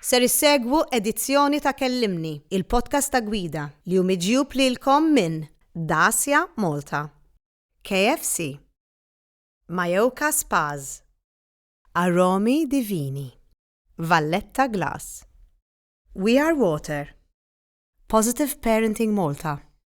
Ser issegwu edizzjoni ta' Kellimni, il-podcast ta' Gwida, li hu miġjub lilkom minn Dacia Malta, KFC, Majoka Spas, Aromi Divini, Valletta Glass, We Are Water, Positive Parenting Malta,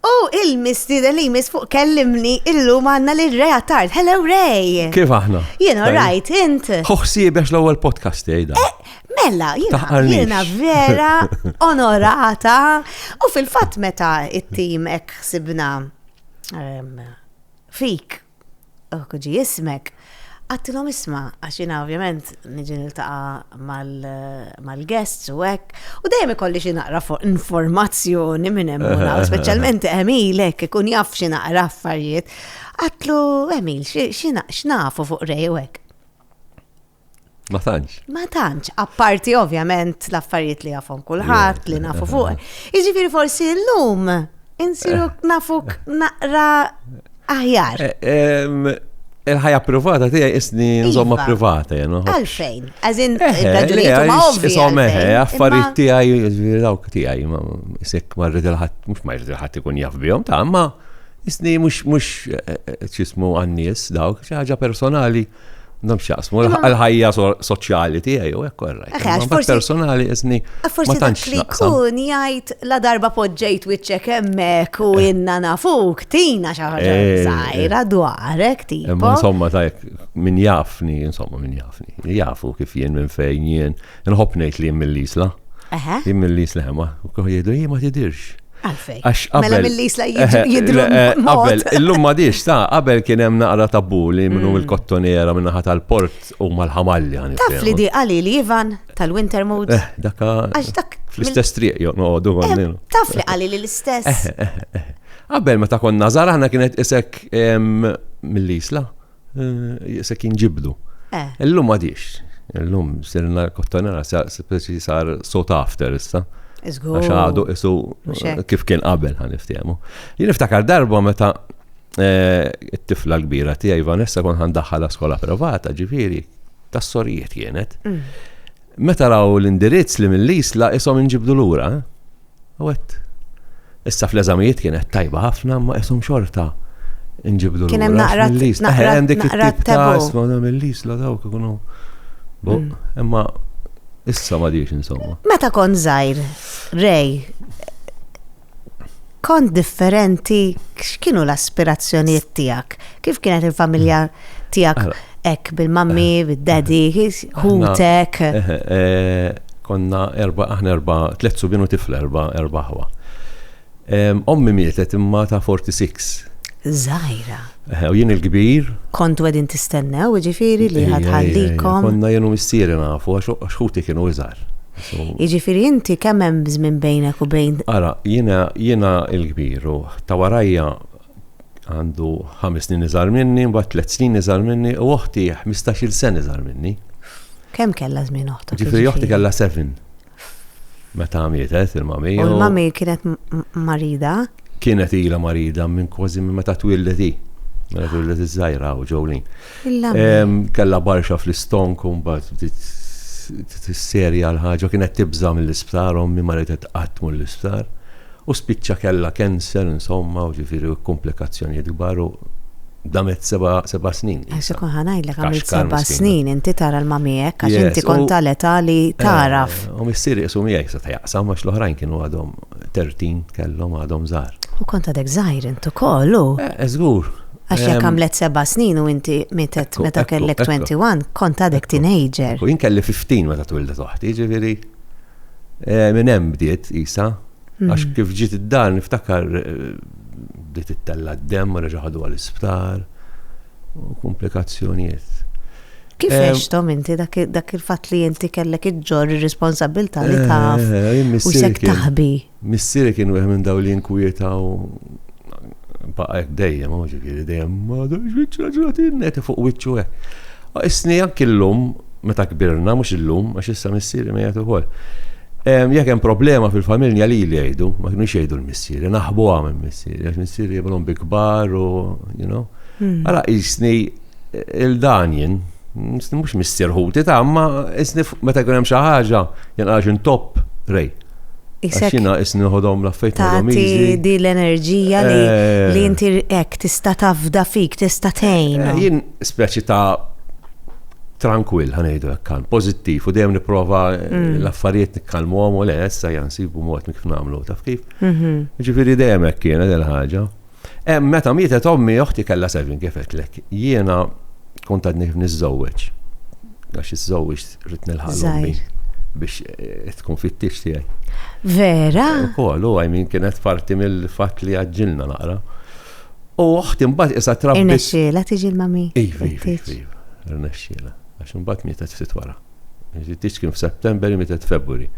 U il-mistieden li jmiss fuq kellimni illum għanna li Ray Attard. Hello Ray! Kif aħna? Jien alright, int? Hoħsi biex l-ewwel podcast jgħidha. Eh, mela, jiena vera onorata u fil-fatt meta it-tim hekk ħsibna ehm, fik Kieku ġie ismek, għattilhom isma' għax jiena ovvjament niġi niltaqa' mal-guests u hekk, u dejjem ikolli xi naqra informazzjoni minn hemm u minn hawn, speċjalment Emil hekk ikun jaf xi naqra affarijiet. Għattlu, Emil, x'nafu fuq Ray u hekk? Ma tantx. Ma tantx, apparti ovvjament l-affarijiet li jafhom kulħadd li nafu fuq. Jiġifieri forsi llum insiru eh. nafuk naqra aħjar. Eh, il-ħajja privata tiegħi isni iva. nżomma privata jenu. Għalfejn, għazin eh, raġunijiet ma ovvi. Isom eħe, affarijiet tiegħi dawk tiegħi ma isek ma rrid il-ħadd mhux ma rrid il-ħadd ikun jaf bihom ta' ma isni mhux mhux ċismu għan-nies dawk xi ħaġa personali. Nam xaqsmu, l-ħajja soċjali tiegħi u hekk korraj. Ma personali iżni. Ah, forsi dak li kun jgħid la darba poġġejt wiċċek hemmhekk u eh. inna nafuk tina xi ħaġa eh, eh. żgħira dwarek tipo. Insomma tajk min jafni, insomma min jafni. Jafu kif jien minn fejn jien. Nħobb ngħid li mill-isla. Eħe. Jien mill-isla ma, kuħ jgħidu jien ma tidirx. Għalfej. Għax qabel. Mela mill-isla jidru. Eh, qabel, illum ma diġ, ta' qabel kien hemm naqra tabbu li minnu mm. il-kottonera minna ħat tal-port u mal-ħamalli għan. Taf li di għali li Ivan tal-Winter Mood. Eh, daka. Għax dak. Fl-istess triq joq noqogħdu eh, għandil. Taf li għali li l-istess. Qabel meta konna żara ħna kienet isek mill-isla. Eh, se kien ġibdu. Eh. Illum għadix. Illum sirna kottanara speċi sar sot after issa. Għax għadu isu kif kien qabel għan iftjemu. Jien iftakar darba meta eh, it-tifla l-kbira tiegħi Vanessa kon għan daħħala skola privata ġifieri tas-sorijiet kienet. Mm. Meta raw l-indirizz li mill-isla isom inġibdu lura. U għedt, Issa fl-eżamijiet kienet tajba ħafna, imma qishom xorta nġibdu l-lura. Kien hemm naqra mill-list. Hemm dik it-tip ta' isma' da mill-list la dawk ikunu. Mm. Imma issa ma diex insomma. Meta kont żgħir, Rej, kont differenti x'kienu l-aspirazzjonijiet tiegħek? Kif kienet il-familja tiegħek? Ek, bil-mammi, eh. bil-daddy, hutek. Eh, eh, konna erba, aħna erba, tlet subinu tifla erba, erba ħwa. Ommi mietet imma ta' 46. Zajra. U jien il-kbir. Kontu għedin tistennew, ġifiri li ħadħallikom. Konna jenu missieri nafu, għax xuti kienu iżar. Iġifiri inti kemm hemm żmien bejnek u bejn. Ara, jiena jiena l-kbir u ta' warajja għandu ħames snin iżgħar minni, mbagħad tliet snin iżgħar minni u oħti 15-il sen iżgħar minni. Kemm kellha żmien oħtok? Ġifieri jiġifieri? oħti kellha seven. Meta mietet il-mami. U l-mami kienet marida? Kienet ilha marida minn kważi minn meta twildet hi. Meta twildet iż-żgħira u ġewlin. Kellha barxa fl-istonk u mbagħad bdiet tisserja l-ħaġa kienet tibża' mill-isptar ommi ma ridet qatt tmur l-isptar u spiċċa kellha cancer insomma u ġifieri komplikazzjonijiet kbar u damet seba' seba' snin. Għax ikun ħa ngħidlek għamilt seba' snin inti tara l-mamiek għax inti kont tal-età li tagħraf. U missieri qisu miegħi seta' jaqsam għax l-oħrajn kienu għadhom 13 kellhom għadhom żgħar. U kont għadek żgħir int ukoll u. Żgur. Għax jekk għamlet seba' snin u inti mietet meta kellek 21, kont għadek teenager. U jien kelli 15 meta twildet oħti, ġifieri eh, minn hemm bdiet isa. Hmm. Għax kif ġiet id-dar niftakar eh, bdiet ittella d-dem u reġa' ħadu għall-isptar u komplikazzjonijiet. Kif eh, għextom inti dak il-fatt li inti kellek iġġor ir-responsabilità li taf u sek taħbi? Missieri kien wieħed minn dawk li jinkwietaw, baqa' hekk dejjem hu, ġifieri dejjem m'għadux biċċa ġratin neheti fuq wiċċu hekk. Isni anki llum, meta kbirna, mhux illum, għax issa missieri mejjet ukoll, jekk hemm problema fil-familja lili jgħidu, ma kinux jgħidu l-missieri, naħbuha minn missieri, għax missieri jibgħathom bi kbar u, you know. Ara qisni Il-dan jien, mhux missier ħuti ta' imma isni meta jkun hemm xi ħaġa jien għax intopp Ray. Għax jiena isni nieħodhom l-affarijiet nieħodhom easy. Tagħti din l-enerġija li inti hekk tista' tafda fik, tista' tgħin. Jien speċi ta' trankwill ħa ngħidu hekk kalm, pożittiv u dejjem nipprova l-affarijiet nikkalmuhom u le issa ejja nsibu mod kif nagħmlu taf kif. Jiġifieri dejjem hekk kienet il-ħaġa. Hemm meta mietet ommi oħti kellha seven kif għedtlek. Jiena kont għadni kif niżżewweġ. Għax iżżewweġt rid nilħaq l-ommi biex eh, tkun fit-tix tiegħi. Vera? Ukoll u għajmin kienet parti mill-fatt li għaġġilna naqra. U oħti mbagħad issa trabbi. Irnexxiela tiġi l-mami. Iva, iva, iva. Irnexxiela. Għax mbagħad mietet ftit wara. Tix kien f'September, mietet f'February.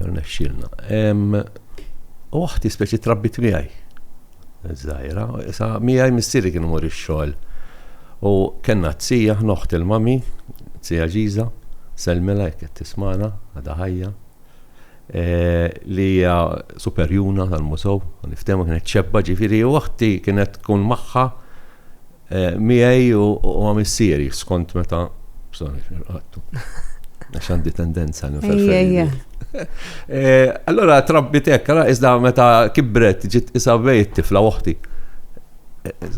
Irnexxielna. U oħti speċi trabbit miegħi. Żgħira, sa miegħi missieri kien imur ix-xogħol. U kellna t-tija, aħna oħt il-mami, t-tija Ġiża, sellmilha jekk qed tismagħna, għadha ħajja, e, li hija superjuna tal-musew, niftehmu kienet xebba ġifieri u oħti kienet tkun magħha Miegħi u ma' missieri, skont meta, bżonn irqadtu. Għax għandi tendenza għal nifel. Allora trabbit hekk, ara iżda meta kibret ġiet qisha bejt tifla oħti.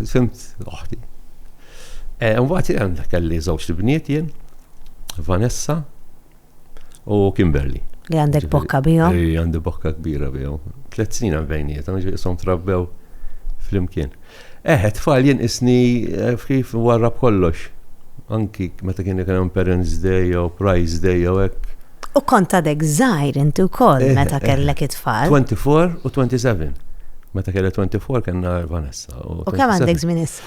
Fimt oħti. Imbagħad kelli żewġt ibniet jien, Vanessa, u Kimberly. Li għandek bokka bijom? Li għandi bokka kbira bijom. Tlet snin għan bejniet, għan ġisom trabbew fl-imkien. Eħe, tfal jien isni eh, kif warra b'kollox. Anki meta kien ikun hemm Parents Day jew Prize Day jew hekk. U kont għadek żgħir inti wkoll eh, meta eh, kellek it-tfal. 24 u 27. Meta kellek 24 kellna Vanessa. U kemm għandek żmien issa?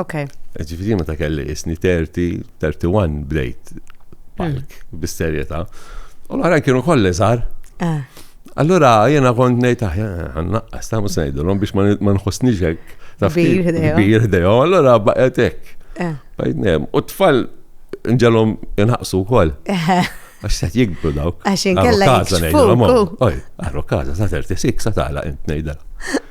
Ok. Ġifiri meta kelli isni 30, 31 bdejt palk hmm. bis-serjetà. U l-għaran kienu kolli żgħar. Ah. Allura jena kont ngħid aħjar ah, għannaqqas ta' mhux ngħidulhom biex ma nħossniex hekk. Kbir ħdejhom. Allura baqgħet hekk. Ah. U t-tfal nġelhom inħaqsu wkoll. Għax se jikbru daw. Għax inkella jikbru. Għarru kaza, sa' 36, sa' tala int nejdala.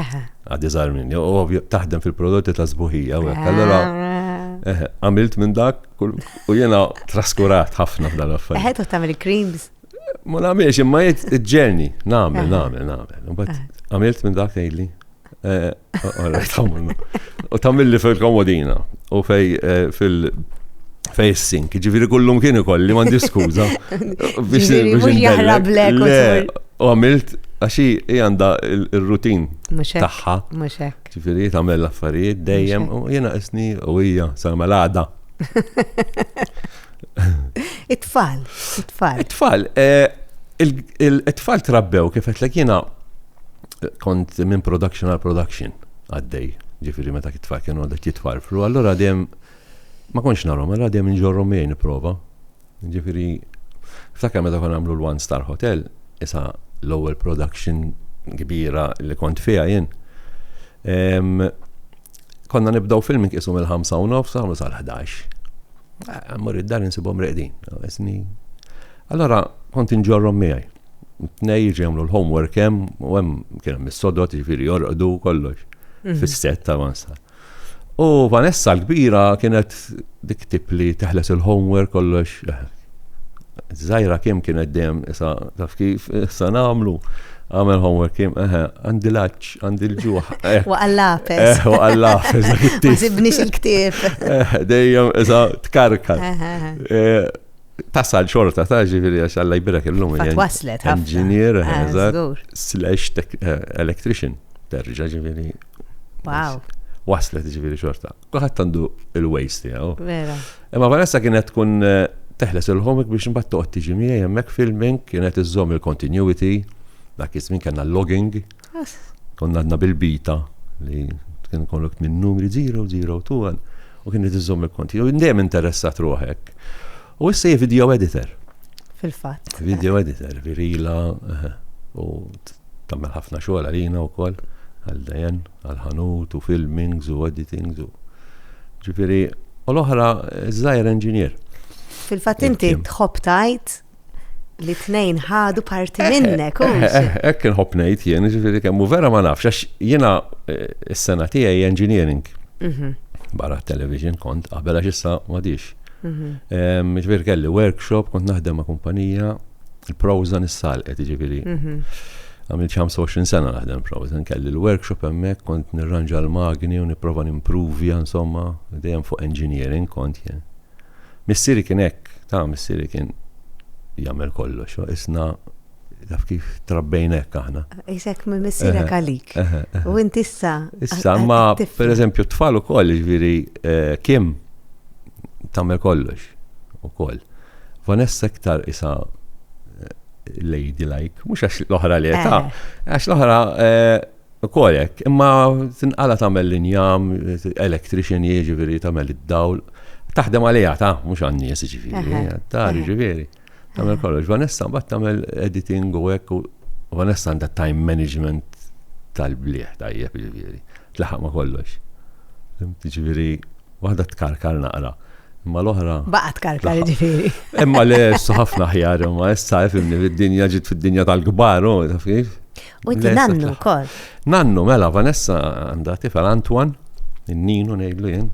Eħe. Għad iżgħar minni, u ovvju taħdem fil-prodotti ta' sbuħija u hekk. Allura eħe, għamilt minn dak kull- u jiena traskurat ħafna f'dan l-affarijiet. Eħe, toħt tagħmel creams. Ma nagħmilx imma jgħid il-ġerni, nagħmel, Eħe. nagħmel, nagħmel. U mbagħad Eħe. għamilt minn dak tgħidli. eh, all right, għamilna. U tagħmilli fil-komodina u fej eh, fil fej is-sink, ġifieri kullum kien ikolli m'għandi skuża. Ġifieri mhux jaħrab lek u Le, tul. U għamilt, għaxi hi għandha il-rutin tagħha. Mhux hekk. Ġifieri tagħmel l-affarijiet dejjem u jiena isni u hija sa malada. It-tfal, it-tfal. It-tfal, eh, it-tfal trabbew kif qed lek jiena kont minn production għal production għaddej, ġifiri meta kitfar kienu għadet jitfarfru, allora dejjem ma konx narhom, allora dejjem nġorhom miegħi nipprova. Ġifieri, ftakar meta konna nagħmlu l-One Star Hotel, isa l-ewwel production kbira li kont fiha jien. Konna nibdew film inqisu mill-ħamsa u nofs għamlu sal-11. Eh, Mur id-dar insibhom reqdin. Allora kont inġorrom miegħi. Tnej jiġi jagħmlu l-homework hemm u hemm kien hemm is-sodot jiġifieri jorqdu kollox mhm. fis-set ta' One Star. U Vanessa l-kbira kienet dik tip li teħles il-homework kollox. Zajra kim kienet dem, issa taf kif, issa namlu. Għamel homework kim, eħe, għandi laċ, għandi l-ġuħ. Eh. U għallafes. Eh, u għallafes. Zibnix il-ktif. Eh, dejjem, issa tkarkar. Tasal xorta ta' ġifiri għax għalla jbirek il-lum. Waslet, engineer, eh, slash eh, electrician, terġa ġifiri. Wow. Waslet ġifiri xorta. Kuħat għandu il-ways tijaw. Vera. Imma Vanessa kienet tkun eh, teħles il-ħomik biex mbatt toqgħod tiġi miegħi hemmhekk filming kienet iżżomm il-continuity dak iż-żmien kellna logging. Konna għadna bil-bita li kien kollok minn numri 0, 0, 2, u kien qed iżomm il-konti. U dejjem interessat ruħek. U issa hi video editor. Fil-fatt. Video editor, virila, eh, u tagħmel ħafna xogħol għalina wkoll għal dajen, għal ħanut u filmings u editings u. Ġifieri, u l-oħra żgħir engineer. Fil-fatt inti tħobb tajt li tnejn ħadu parti eh, minnek. Eh, eh, hekk inħobb ngħid jien, ġifieri kemm vera ma nafx għax jiena s-sena tiegħi engineering. Mhm. Barra television kont qabel għax issa m'għadix. Mhm. Ġifieri kelli workshop kont naħdem ma' kumpanija il-Proza nissalqet ġifieri. Mhm. Għamil 25 sena naħdem Proza, kelli l-workshop hemmhekk kont nirranġa l-magni u nipprova nimprovja insomma dejjem fuq engineering kont jien. Missieri kien hekk, ta' missieri kien jagħmel kollox, isna taf kif trabbejna hekk aħna. Isek minn missierek għalik. U inti issa. Issa, ma per eżempju t-tfal ukoll, ġifieri eh, Kim tagħmel kollox ukoll. Vanessa iktar isa eh, lady like, mhux għax l-oħra li ta' eh. għax l-oħra Ukoll hekk, imma tinqala' tagħmel l-injam, electrician hi jiġifieri tagħmel id-dawl. Taħdem għaliha ta, mhux għan-nies jiġifieri, għad-dar jiġifieri. Tagħmel kollox. Vanessa mbagħad tagħmel editing u hekk u Vanessa għandha time management tal-blieh tajjeb jiġifieri. Tlaħaq ma' kollox. Jiġifieri waħda tkarkar naqra. Imma l-oħra. Baqa tkarkar ġifiri. Imma le, issa ħafna ħjar, imma issa fimni fid-dinja ġit fid-dinja tal-kbar, u taf kif? U inti Le, nannu sa- wkoll. Nannu, mela, Vanessa għandha tifel Antoine, in-ninu ngħidlu jien.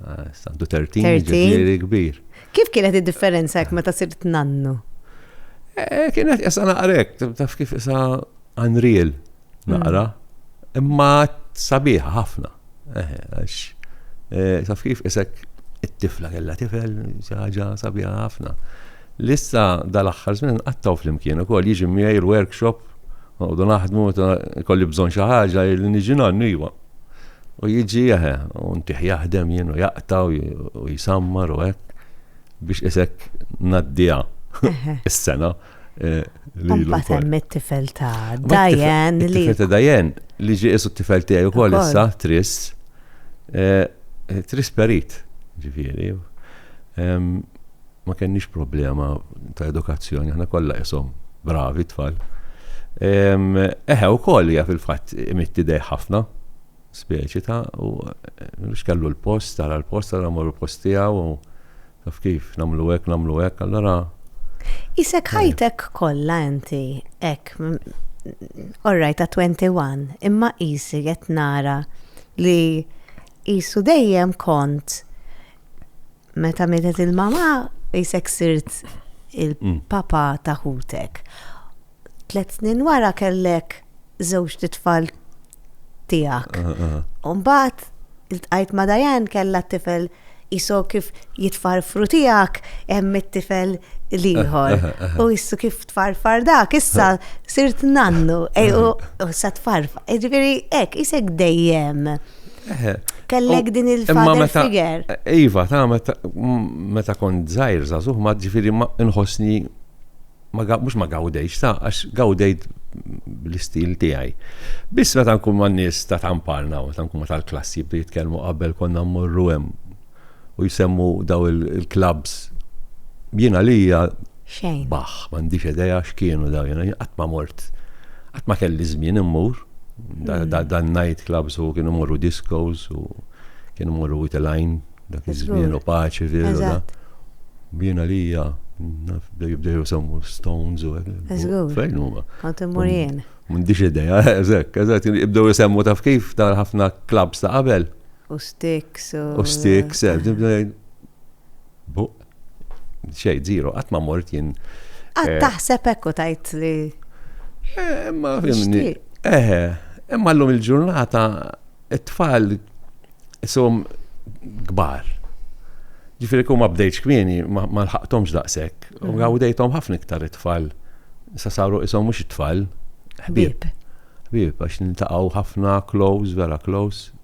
Ah, issa Għandu 13, 13. ġifieri kbir. Kif kienet id-differenza jekk meta sirt nannu? Eh, Kienet issa naqrek, taf kif issa unreal naqra, imma sabiħa ħafna. Eh, għax, eh, taf kif isek it-tifla kella tifel, xi ħaġa sabiħa ħafna. Lissa dal-aħħar żmien qattaw flimkien ukoll jiġi miegħi l-workshop u naħdmu kolli bżonn xi ħaġa li niġi nannu iwa. U jiġi eħe, u ntih jaħdem jien u jaqta u jisammar u hekk biex isek naddija is-sena. Eh, Umbat hemm it-tifel ta' Dajen li. Tifel ta' Dajen li ġi isu t-tifel tiegħi wkoll issa tris. Eh, eh, tris perit, ġifieri. Ma kenniex problema ta' edukazzjoni, aħna kollha isom bravi tfal. Eħe wkoll hija fil-fatt imitti dej ħafna. Speċi ta' u biex kellu l-post, tara l-post, tara mmorru l-post tiegħu u taf kif, nagħmlu hekk, nagħmlu hekk, allura. Qisek ħajtek kollha inti hekk orrajt ta' 21, imma qisi qed nara li qisu dejjem kont Meta mietet il-mama, jisek sirt il-papa ta' ħutek. Tlet snin wara kellek żewġ titfal tiegħek. Mbagħad iltqajt ma' Dajan kellha tifel iso kif jitfarfru tiegħek hemm it-tifel l-ieħor. U jissu kif tfarfar dak, issa sirt nannu, u sa tfarfar. Ġifieri hekk isek dejjem. Kellek din il-father figure. Iva, ta' meta kont zaħir zazuħ, ma ġifiri ma nħosni, mux ma gawdejx, ta' għax gawdejt l-istil tijaj. Bis meta nkun ma nis ta' tamparna, ta' nkun ma tal-klassi bdi jitkelmu qabel konna mmorru hemm u jsemmu daw il-clubs. Jien għalija. Xejn. Baħ, m'għandix idea x'kienu daw jiena qatt ma mort. Qatt ma kelli żmien immur. Dan night clubs u kienu morru discos u kienu morru with a line dak iż-żmien u paċi fil da. Jien għalija naf jibdew jsemmu Stones u hekk. Fejn huma? Kont immur jien. M'għandix idea, eżatt, eżatt, jibdew jsemmu taf kif tal-ħafna clubs ta' qabel. U sticks u. U sticks, buq. Xej, zero, qatt ma mort jien. Qatt eh, taħseb hekk u tajt li. Eh, imma fimni. Eħe, imma llum il-ġurnata it-tfal isom kbar. Ġifieri kum ma bdejtx kmieni ma lħaqthomx daqshekk. U mm. għawdejthom ħafna iktar it-tfal. Sa saru isom mhux it-tfal. Ħbieb. Ħbieb għax nintaqgħu ħafna close, vera close.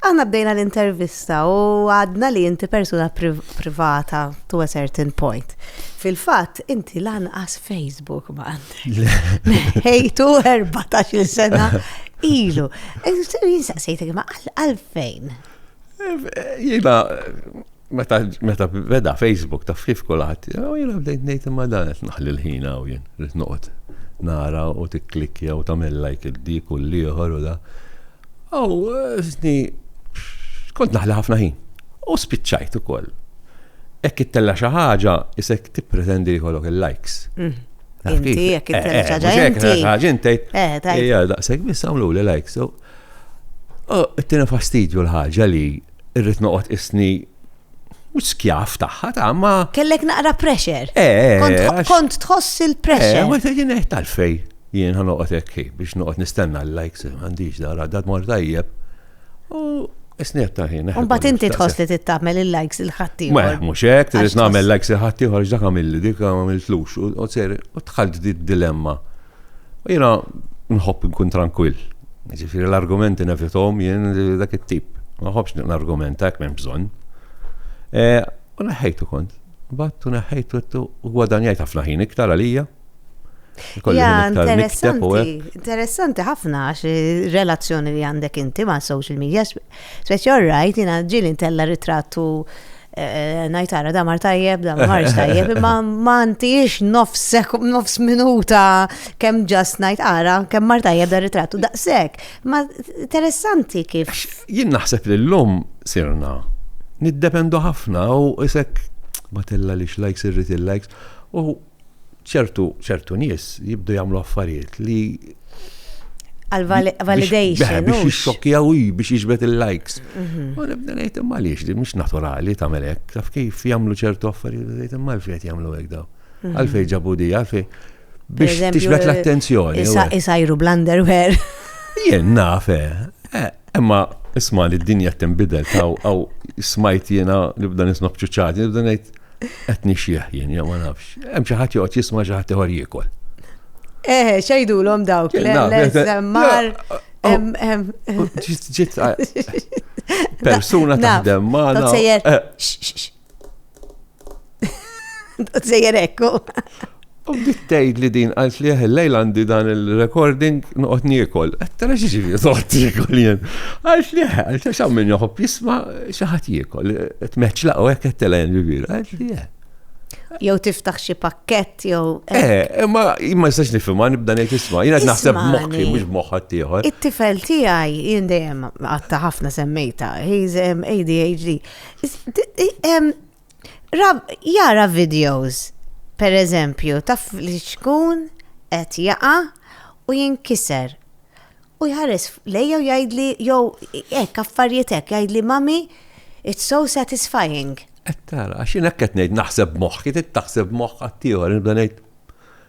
Aħna bdejna l-intervista u għadna li inti persuna privata to a certain point. Fil-fatt, inti lanqas Facebook ma għandek. Hejtu 14 sena ilu. Jinsaqsejtek ma għalfejn. Jina, Meta, meta beda Facebook ta' fif kulat, u jena bdejt nejt imma dan qed naħli l-ħin għaw jien, rrit noqgħod nara u tikklikja u tagħmel like il-dik u l-ieħor u da. Aw, sni, kont naħli ħafna ħin. U spiċċajt ukoll. Ekk ittella xi ħaġa isek tippretendi jkollok il-likes. Mm. Inti, jekk eh, eh, ħaġa inti. ħaġa inti. Eh, tajja, daqshekk biss għamlu li likes. U t-tina fastidju l-ħaġa li irrid noqgħod isni mhux skjav tagħha ta' ma. Kellek naqra pressure. Eh, eh kont tħoss il-pressure. Eh, ma tgħidin eh tal-fej jien ħa noqgħod hekk biex noqgħod nistenna l-likes m'għandix dara dad mor tajjeb. U Isniet ta' ħin. Eh, Umbat inti tħoss li tittamel il-likes il-ħatti. Ma, mux hekk, trid nagħmel likes il-ħatti ħorġ dak għamilli dik għamiltlux. U ser, u tħalt di dilemma. U jiena nħobb nkun trankwill. Ġifieri l-argumenti nevithom jien dak it-tip. Ma nħobbx nargumenta hekk m'hemm bżonn. E, u neħħejtu kont. Battu neħħejtu għettu u gwadanjajt ħafna ħin iktar għalija. Ja, interessanti, interessanti ħafna għax relazzjoni li għandek inti ma' social media, speċi rajt jina ġili intella ritrattu Eh, najtara da mar tajjeb, da mar tajjeb, imma ma ntix nofs minuta kem ġast najtara, kem mar tajjeb da ritrattu daqsek. Ma interessanti kif. Jien naħseb li l-lum sirna, niddependu ħafna u isek batilla li xlajks irrit il-lajks, u ċertu ċertu nies jibdu jagħmlu affarijiet li għal-validation. Biex jixxokjaw biex jiġbet il-likes. Mhm. U nibda ngħid imma għaliex di mhux naturali tagħmel hekk, taf kif jagħmlu ċertu affarijiet ngħid imma għalfejn qed jagħmlu hekk daw. Mhm. Għalfejn ġabu di, għalfejn biex tiġbed l-attenzjoni. Isajru bl-underwear. Jien naf, eh. Eh, imma isma' li d-dinja tinbidel taw għaw smajt jiena nibda nisma' bċuċċati, nibda ngħid Qed nixjieħ jien, jew ma nafx. Hemm xi ħadd joqgħod jisma' xi ħadd ieħor jiekol. Eh, xejdulhom dawk, le, le, żemmar. Ġiet persuna taħdem magħna. Sejjer. Sejjer ekku. U bdiet tgħid li din għalt li lejl għandi dan il-recording noqgħod niekol. Qed tara xi ġifieri noqgħod niekol jien. Għalt li għalt għax hawn min joħob jisma' xi ħadd jiekol. Qed meċla u hekk qed telgħin ġifieri. Għalt li eh. Jew tiftaħ xi pakkett jew. Eh, imma ma jistax nifhimha nibda ngħid isma' jiena qed naħseb moħħi mhux moħħa tieħor. It-tifel tiegħi jien dejjem qatta ħafna semmejta, he's ADHD. Jara videos, per eżempju, ta' fliċkun qed jaqa' u jinkiser. U jħares lejja u jgħidli, jew hekk affarijiet hekk, jgħidli mami, it's so satisfying. Qed tara, għax jien hekk qed ngħid naħseb moħħ, qed taħseb moħħ ħaddieħor, nibda ngħid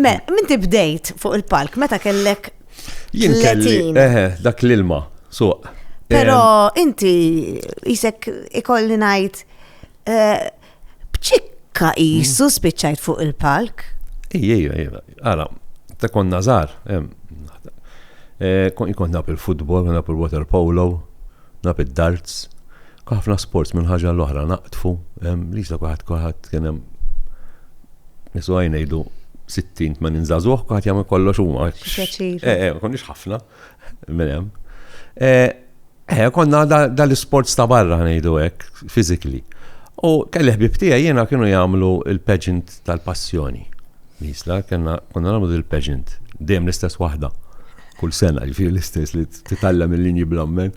Me, minti bdejt fuq il-palk, meta kellek. Jien kelli, eħe, dak l-ilma, suq. Pero inti jisek ikolli najt eh, bċikka jisu mm. spiċċajt fuq il-palk. Ija, ija, ija, għala, ta' kon nazar, eh, kon ikon nap il-futbol, nap il-water polo, Naf id-darts, ħafna sports minn ħaġa għal oħra naqdfu, Lisa kulħadd kulħadd kien hemm nies oħrajn ngħidu 60 80 żagħżugħ kulħadd jagħmel kollox huma. Pjaċir. Eh, eh, konniex ħafna minn hemm. Eh, eh konna dal-isports ta' barra ngħidu hekk, physically. U kelli ħbib tiegħi jiena kienu jagħmlu il-pageant tal-passjoni. L-Isla kellna konna nagħmlu dil pageant dejjem l-istess waħda. Kull sena ġifieri l-istess li titgħallem il-linji bl-ammen.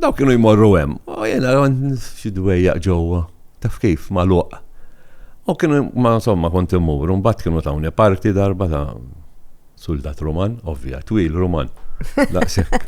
Dawk kienu jmorru hemm. U jiena xi dwejjaq ġewwa. Taf kif magħluq. U kienu ma insomma kont immur, u mbagħad kienu tawni parti darba ta' suldat Ruman, ovvja, twil Ruman. Daqshekk.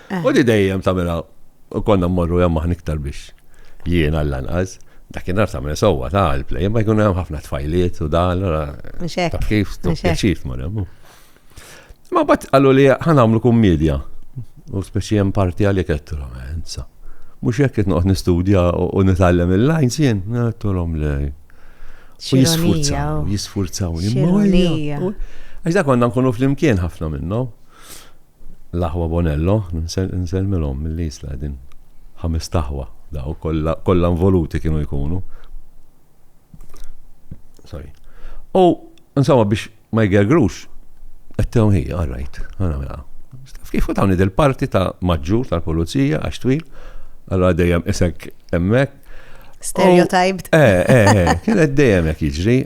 Eh. U di dejjem tagħmilha konna mmorru hemm aħna iktar biex jien għall-anqas. Dakinhar tagħmel sewwa ta' l-play, ma jkun hemm ħafna tfajliet u dan, allora Mhux hekk, taf kif mhux hekk. pjaċir tmur hemm. Ma bat qalu li ħanamlu kummedja. U speċi hemm parti għalli kettura, enza. Mhux hekk qed noqgħod nistudja u u nitgħallem il-lines jien, għedtulhom le. U Xironija, jisfurzaw, u- jisfurzaw. Xironija. Għax da konna nkunu fl-imkien ħafna minnhom. L-aħwa Bonello, nsellmilhom mill-Isla qegħdin ħamest aħwa dawk kollha kollha involuti kienu jkunu. Sorry. U insomma biex ma jgergrux qed tewm hi, all right, għana mela. Kif u tawni del-parti ta' maġġur tal-pulizija għax twil, allora dejjem isek hemmhekk. Stereotyped. Eh, eh, eh, kienet dejjem hekk jiġri.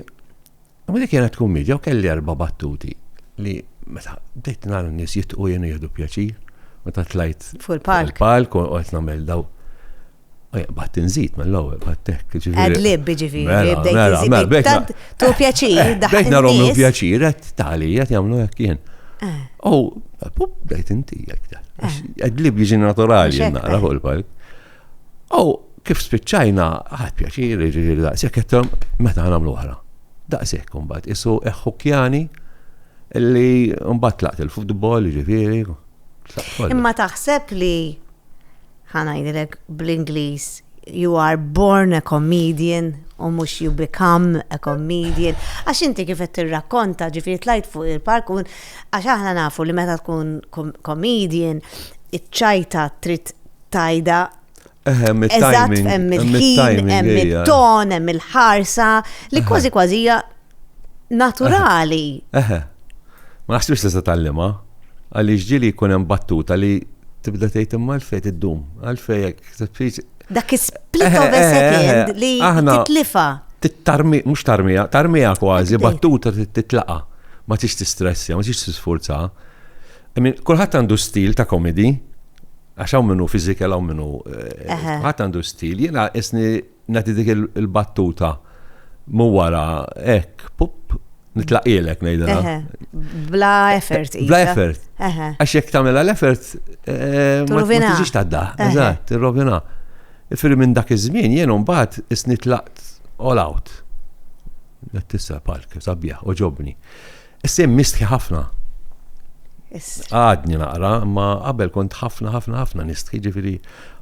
Imma dik kienet kummedja u kelli erba' battuti li meta bdejt nara n-nies jitqu jenu jieħdu pjaċir meta tlajt fuq il-palk. Il-palk u qed nagħmel daw. Batt inżid mill-ewwel battek. Għadlib ġifieri, mela, bdejt mela, inżid. Mela, bdejt tant tu pjaċir, daħħal. Bdejt narhom nies. pjaċir, qed tali, qed jagħmlu hekk jien. Eh. U bdejt inti jekk. Għadlib jiġi naturali nara fuq il-palk. U kif spiċċajna, ħadd pjaċir, jiġifieri daqshekk qedthom meta nagħmlu oħra. Daqshekk imbagħad isu eħħukjani li mbagħad tlaqt il-futbol, jiġifieri. Imma taħseb li ħanajdilek bl-Ingliż you are born a comedian u mhux you become a comedian. Għax inti kif qed tirrakkonta ġifieri tlajt fuq il-park għax aħna nafu li meta tkun comedian iċ-ċajta trid tajda. Ehem, it-timing. Hemm il-ħin, hemm it-ton, hemm il-ħarsa, li kważi kważi hija naturali. Eħe. Ma naħsibx tista' tallima, għaliex ġili jkun hemm battuta li tibda tgħid imma għalfejn iddum, għalfejn jekk Dak is-split of a second li titlifa. Tittarmi, mhux tarmija, tarmija kważi, battuta titlaqa. Ma tix tistressja, ma tix tisfurza. Kulħadd għandu stil ta' komedi, Għax hawn minnu fizikel hawn minnu. Eh, ħadd għandu stil, jiena isni nagħti dik il-battuta mu wara hekk, pup, nitlaqilek ngħidha. Bla effort. Bla effort. Għax jekk tagħmilha l-effort, eh, ma tiġix tadda. Eżatt, tirrovina. Firri minn dak iż-żmien jien mbagħad isni tlaqt all out. Tissa park, sabiħ, oġobni. Is-sehem nistħi ħafna. Għadni naqra, ma qabel kont ħafna ħafna ħafna nistħi ġifieri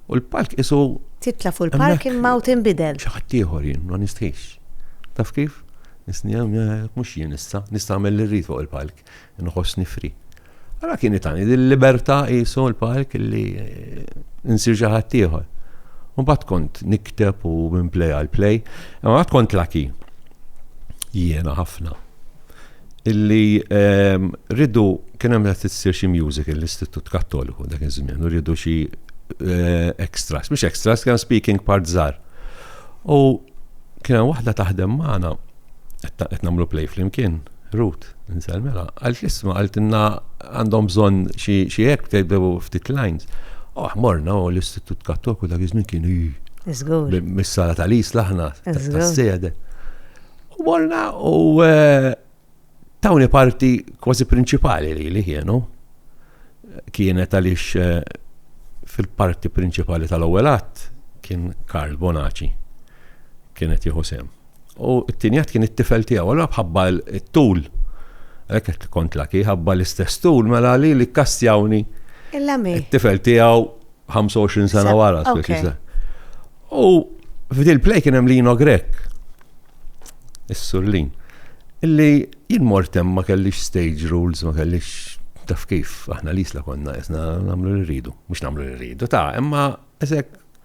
u l-palk isu. Titla' fuq il-palk imma u tinbidel. Xi ħadd ieħor jien ma nistħix. Taf kif? Nisni mhux jien issa, nista' nagħmel li rrid fuq il-palk, inħoss nifri. Ara kien itani l-libertà qisu l-palk li nsir xi ħadd ieħor. Mbagħad kont nikteb u minn play għal play, imma għad kont laki jiena ħafna. Illi ehm, ridu kien hemm qed issir xi music l-Istitut Kattoliku dak iż-żmien u rridu xi eh, extras, mhux extras, kien speaking part żgħar. U kien hemm waħda taħdem magħna qed nagħmlu play flimkien, Ruth, insel mela, għalt l-isma, għalt inna għandhom bżon xie hekk tgħidu ftit lines. Oh, morna u l-Istitut Kattoku dak iż-żmien kien mis-sala tal-is laħna, tas-sede. U morna u eh, tawni parti kważi prinċipali li li kienu kienet għaliex eh, fil-parti prinċipali tal-ewwel att kien Karl Bonaci kienet jieħu sem. U t-tieni għad kien it-tifel tiegħu, allura bħabba t-tul. Għalhekk kont laki ħabba l-istess tul mela li li kastjawni. Il-lami. It-tifel tiegħu 25 sena wara. U f'dil play kien hemm Lino Grek. Is-surlin. Illi jien mortem ma kellix stage rules, ma kellix taf kif, aħna l-isla konna, jesna namlu l-ridu, mux namlu l-ridu, ta' imma eżek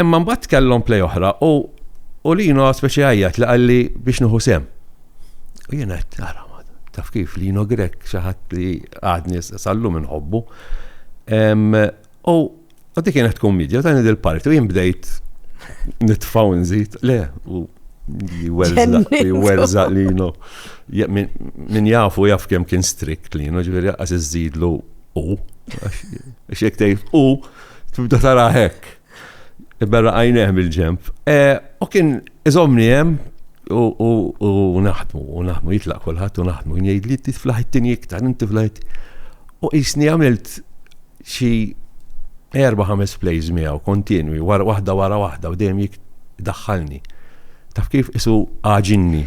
Imma mbagħad kellhom play oħra u u Lino speċi għajjat li qalli biex nieħu sem. U jien qed ara taf kif Lino Grek xi ħadd li għadni sallum inħobbu. U u dik kienet tkun midja dan il-parti u jien bdejt nitfaw nżid le u jwerżaq Lino. Min jafu jaf kemm kien strikt Lino ġifieri għaż iżidlu u. X'jekk tgħid u tibda tara hekk. Iberra għajneħ bil-ġemp. E, u kien iżomni hemm u naħdmu, u naħdmu jitlaq kulħadd u naħdmu jgħid li tiflaħittini iktar, inti flaħit. U jisni għamilt xi erba' ħames plays miegħu kontinwi, wara waħda wara waħda u dejjem jik daħħalni. Taf kif isu għaġinni.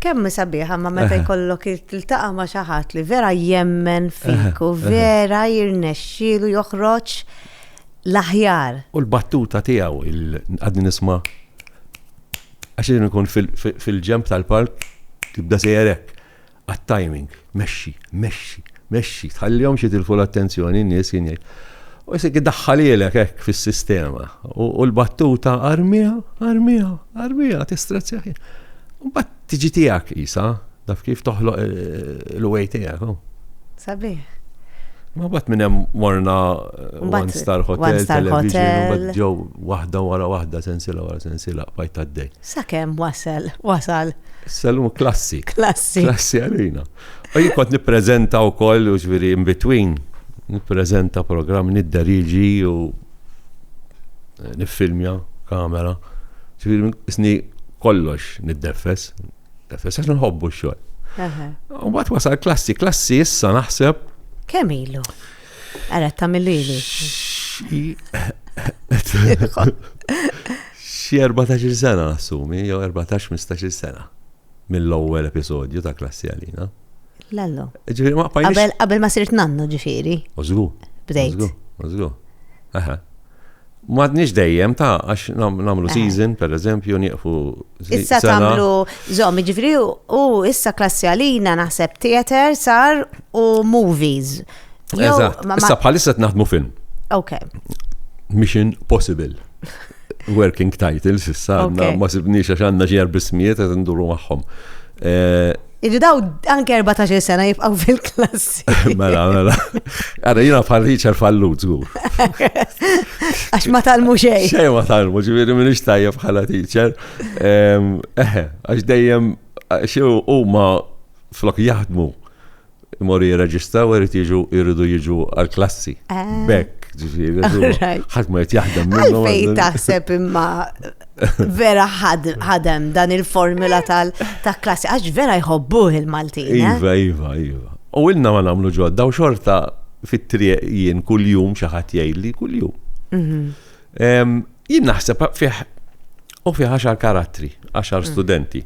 Kemm hi sabiħa imma meta jkollok tiltaqa' ma' xi ħadd li vera jemmen fik u vera jirnexxielu joħroġ l-aħjar. U l-battuta tiegħu għadni nisma' għax jien ikun fil-ġenb tal-palk tibda sejjer hekk għat-timing, mexxi, mexxi. Mexxi, tħallihomx jitilfu l-attenzjoni n-nies, kien jgħid. U jsir idaħħalhielek hekk fis-sistema. U l-battuta armiha, armiha, armiha, tistrazzjah. Mbagħad tiġi tiegħek isa, daf kif toħloq il-way tiegħek. Oh. Sabiħ. Ma bat minn hemm morna eh, One Star Hotel, television, ġew waħda wara waħda sensila wara sensila bajt għaddej. Sakemm wasal, wasal. Salum klassi. Klassi. Klassi għalina. U jien kont nippreżenta wkoll, ġifieri in between, nippreżenta programm nidderiġi u eh, niffilmja kamera. Ġifieri isni kollox niddeffes, nidefes għax nħobbu x-xogħol. U bat wasal klassi, klassi issa naħseb. Kemm ilu? Għara ta' millili. Xie 14 sena nassumi, jew 14-15 sena. mill-ewwel episodju ta' Klassi Għalina. Lallo. Ġifieri ma qbajniex. Qabel qabel ma sirt nannu ġifieri. Ożgu. Bdejt. Ożgu. Aha. Madniex dejjem ta' għax namlu season, per eżempju, nieqfu. Issa tamlu zomi ġifri u issa klassi għalina naħseb theater sar u movies. Eżatt, issa bħalissa naħdmu film. Ok. Mission Possible. working titles issa għandna ma sibniex għax għandna ġer bismijiet qed nduru magħhom. Eh, Irridaw anke 14 sena jibqaw fil-klassi. Mela, mela. Għara, jina bħal Richard Fallu, zgur. Għax ma talmu xej. Xej ma talmu, ġiviri minn ixtajja bħala teacher. Eħe, għax dejjem, xew u ma flok jaħdmu Imorru jirreġistraw u jrid jiġu jridu jiġu għall-klassi. Eh. Bekk, ġifieri. Ħadd ma qed jaħdem minnhom. Fejn taħseb imma vera ħadem dan il-formula tal-klassi għax vera jħobbuh il-Maltin. Eh? Iva, iva, iva. U ilna ma nagħmlu ġodda u xorta fit-triq jien kuljum xi ħadd jgħidli kuljum. Mhm. Jien naħseb fih u fih għaxar karattri, għaxar mm. studenti.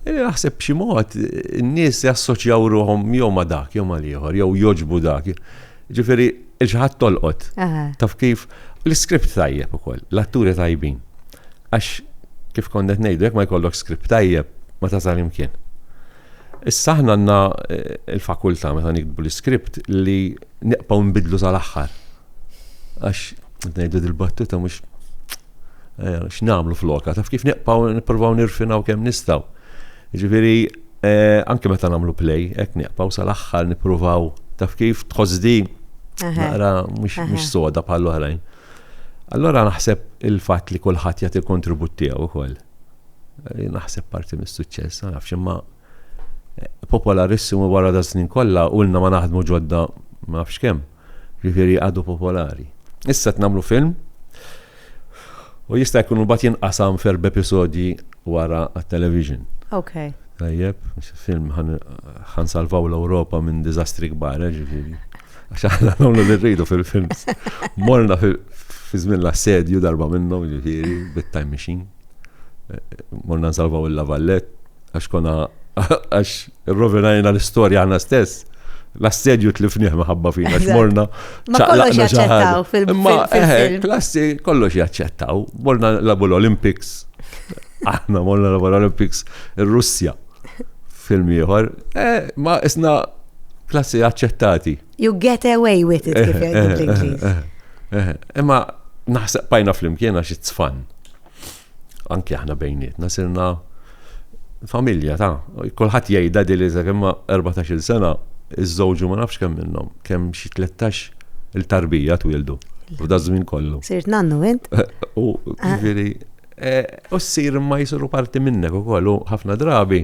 Naħseb xi mod n-nies jassoċjaw ruhom jew ma dak, jew ma liħor, jew joġbu dak. Ġifieri il-ġħad tolqot. Taf kif l-iskript tajjeb ukoll, l-atturi tajbin. Għax kif konnet ngħidu jekk ma jkollok skript tajjeb ma tasal imkien. Issa aħna għandna l-fakultà meta niktbu l-iskript li neqbgħu nbiddlu sal-aħħar. Għax ngħidu dil-battuta mhux eh, x'nagħmlu floka, taf kif neqbgħu nippruvaw nirfinaw kemm nistgħu. Ġifieri eh, anke meta nagħmlu play, hekk neqbgħu sal-aħħar nippruvaw taf kif tħossdi naqra mhux soda bħal oħrajn. Allora naħseb il-fatt li kulħadd jagħti kontribut tiegħu wkoll. li naħseb parti mis-suċċess, ma nafx imma eh, popolarissimu wara da snin kollha u lna ma naħdmu ġodda ma nafx kemm. Ġifieri għadu popolari. Issa tnamlu film u jista' jkun mbagħad jinqasam ferb episodji wara għat-television. Ok. Tajjeb, film ħan salvaw l-Ewropa minn diżastri kbar, eh, ġifieri. Għax aħna nagħmlu li rridu fil-films. Morna fi żmien l-assedju darba minnhom ġifieri bit-time machine. Morna nsalvaw il-lavallet għax konna għax rovinajna l-istorja għana stess. L-assedju tlifnieh maħabba fina x'morna. Ma kollox jaċċettaw fil-film. Eh, klassi kollox jaċċettaw. Morna labu l-Olympics. Aħna morna labu l-Olympics ir-Russja. Film ieħor. Eh, ma isna Klassi aċċettati. You get away with it kif jgħidu bl-Ingliż. Imma naħseb pajna flimkien għax it-tfan. Anki aħna bejnietna sirna familja ta' kulħadd jgħidha dili sa kemm 14-il sena iż-żewġu ma nafx kemm minnhom, kemm xi 13 il-tarbija twildu. F'da żmien kollu. Sirt nannu int? U ġifieri u ssir ma jsiru parti minnek ukoll u ħafna drabi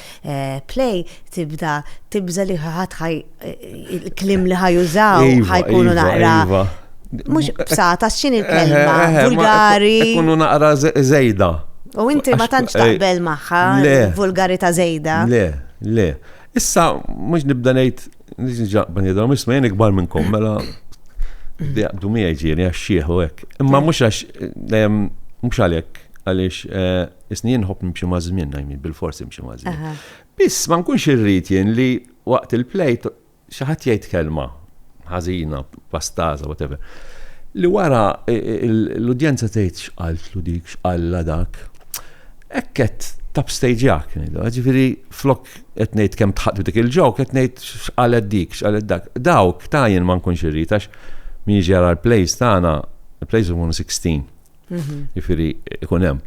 play tibda tibża li ħadd ħaj il-klim li ħajużaw iva, ħajkunu iva, naqra. Iva. Mux bsata, xin il-kelma, eh, eh, eh, vulgari. Kunu naqra zejda. U inti ma tantx taqbel maħħa, vulgari ta' zejda. Le, le. Issa, mux nibda nejt, nix nġaqban jidhom, isma jen ikbar minnkom, mela, jaqdu mi ġiri, għax xieħu ek. Imma mux għax, mux għalek, għalix, Isni jien nħobb nimxi maż-żmien, I mean, bilfors imxi maż-żmien. Biss ma nkunx irrid jien li waqt il-play xi ħadd jgħid kelma ħażina, pastaża, whatever. Li wara l-udjenza tgħid x'qaltlu dik, x'qalla dak. Hekk qed tapstejġjak, ġifieri flok qed ngħid kemm tħadd dik il-ġok, qed ngħid x'qalet dik, x'qalet dak. Dawk ta' jien ma nkunx irrid għax min jiġi jara l-plays tagħna, il-plays ikunu 16. Mhm. Jifieri ikun hemm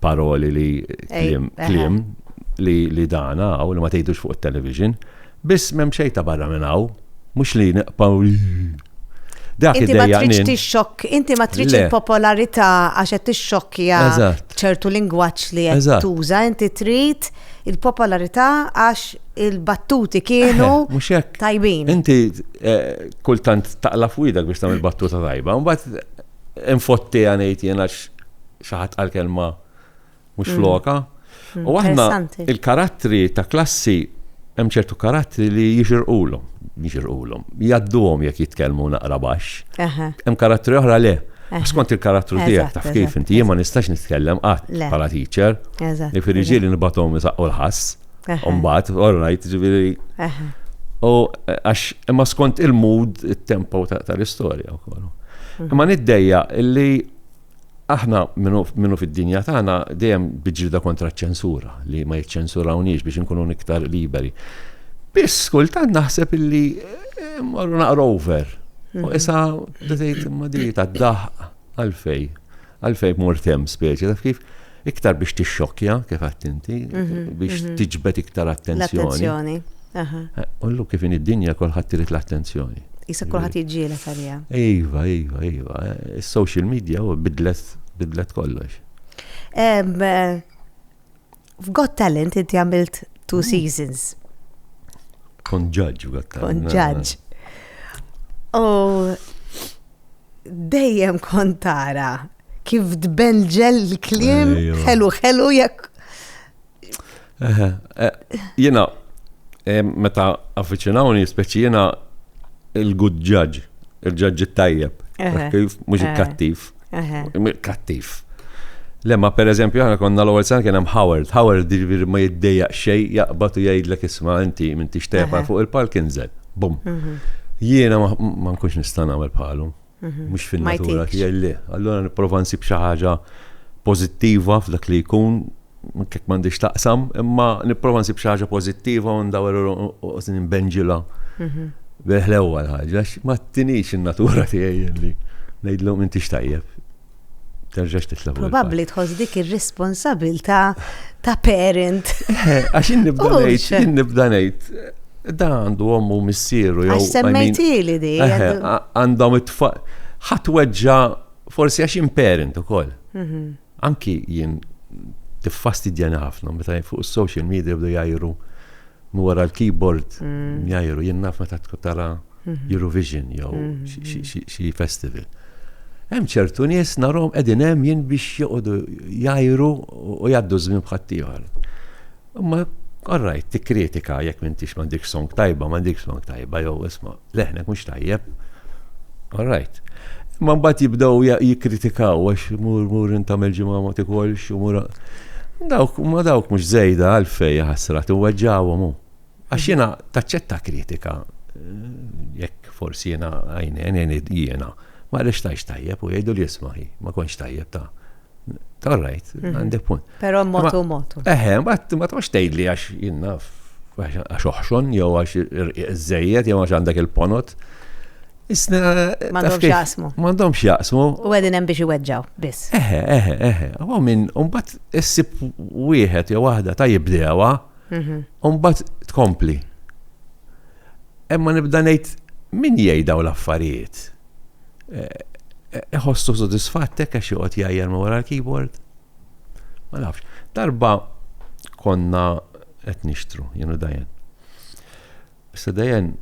paroli li kliem kliem li li dan hawn li ma tgħidux fuq it-television, biss m'hemm xejn ta' barra minn hawn, mhux li nqpaw Dak Inti ma tridx tixxokk, inti ma tridx il-popolarità għax qed tixxokkja ċertu lingwaġġ li qed tuża, inti trid il-popolarità għax il-battuti kienu eh, tajbin. Inti eh, kultant taqla f'widek biex tagħmel battuta tajba, mbagħad infottiha ngħid jien għax xi ħadd qal kelma mhux mm. floka. Mm, u aħna il-karattri ta' klassi hemm ċertu karattri li jixirqulhom, jixirqulhom, jadduhom jekk jitkellmu naqra baxx. Hemm karattri oħra le. Skont il-karattru tiegħek taf kif inti jien ma nistax nitkellem qatt bħala teacher. Ifieri ġieli nibgħathom isaqqu l-ħass. Umbat, all right, ġiviri. U għax, imma skont il-mood, il-tempo tal-istoria u kollu. Mhm. Imma niddejja illi aħna minnu fid-dinja tagħna dejjem biġrida kontra ċensura li ma jiċċensurawniex biex nkunu iktar liberi. Biss kultant naħseb illi eh, morru naqra over. U mhm. issa bdejt imma di ta' daħ għalfej. Għalfejn mort hemm speċi, taf kif? Iktar biex tixxokkja, kif għadt inti, biex tiġbed iktar attenzjoni. Attenzjoni. Ullu kif in id-dinja kolħadd trid l-attenzjoni. Jisa kolħadd jiġġiela għalija. Iva, iva, iva. Is-social media u bidlet bidlet kollox. F'Got Talent inti għamilt two hmm. seasons. Kon ġaġġ f'Got Talent. Kon ġaġġ. U dejjem kontara kif tbenġel l-klim ħelu ħelu jekk. Eh, jena, eh, meta affiċinawni, speċi jena il-good judge, il-ġaġġi tajjeb, mux il-kattiv. Kattiv. Lemma per eżempju aħna konna l-ewwel sena kien hemm Howard. Howard jiġifieri ma jiddejjaq xejn jaqbad u jgħidlek isma' inti minn tixtepa fuq il-palk inżel. Bum. Mhm. Jiena ma nkunx nista' nagħmel bħalu. Mhm. Mhux fin-natura tiegħi le. Allura nipprova nsib xi ħaġa pożittiva f'dak li jkun anke jekk m'għandix taqsam, imma nipprova nsib xi ħaġa pożittiva u ndawer u nbenġilha mhm. bil-ħlewwa l-ħaġa, ma tinix in-natura tiegħi li ngħidlhom inti x'tajjeb. Terġax titlab. Probabbli tħoss dik ir-responsabilità ta' parent. Eh, għax nibda ngħid, nibda ngħid, da għandu għommu missieru. Għax semmejtili di. Eh, għandhom it-tfaq. ħatweġġa forsi għax in parent ukoll. Mhm. Anki jien tiffastidjani ħafna meta fuq is-social media jibdew jgħajru minn wara l-keyboard jgħajru. Jien naf meta tkun tara Eurovision jew xi festival. Hemm ċertu nies narhom qegħdin hemm jien biex joqogħdu jgħajru u jgħaddu ż-żmien b'ħaddieħor. Imma all right, tikkritika jekk m'intix m'għandikx song tajba, m'għandikx song tajba jew isma' leħnek mhux tajjeb. All right. Imma mbagħad jibdew jikkritikaw għax mur mur intam il-ġimgħa ma tikolx u mur. Dawk ma dawk mhux żejda għalfej ħasra tiweġġawhom hu. Għax mhm. jiena taċċetta kritika jekk forsi jiena għajnejn jiena. Ma għaliex tajx tajjeb u jgħidu li jismaħi, ma konx tajjeb ta' All right, mhm. għandek punt. Pero motu motu. Eħe, ma tgħax tgħidli għax jinnaf, għax oħxon, jew għax iżejjed, jew għax għandek il-ponot. Isna. Mandom xjaqsmu. Mandom xjaqsmu. U għedin hemm biex iweġġaw, biss. Eħe, eħe, eħe. Għaw minn, unbat issib wieħed jew waħda ta' jibdewa, mhm. unbat tkompli. Emma nibda ngħid min jgħidaw l-affarijiet. iħossu eh, sodisfattek għax joqgħod jgħajjar ma wara l-keyboard. Ma nafx. Darba konna qed nixtru, jenu dajen. Issa dajen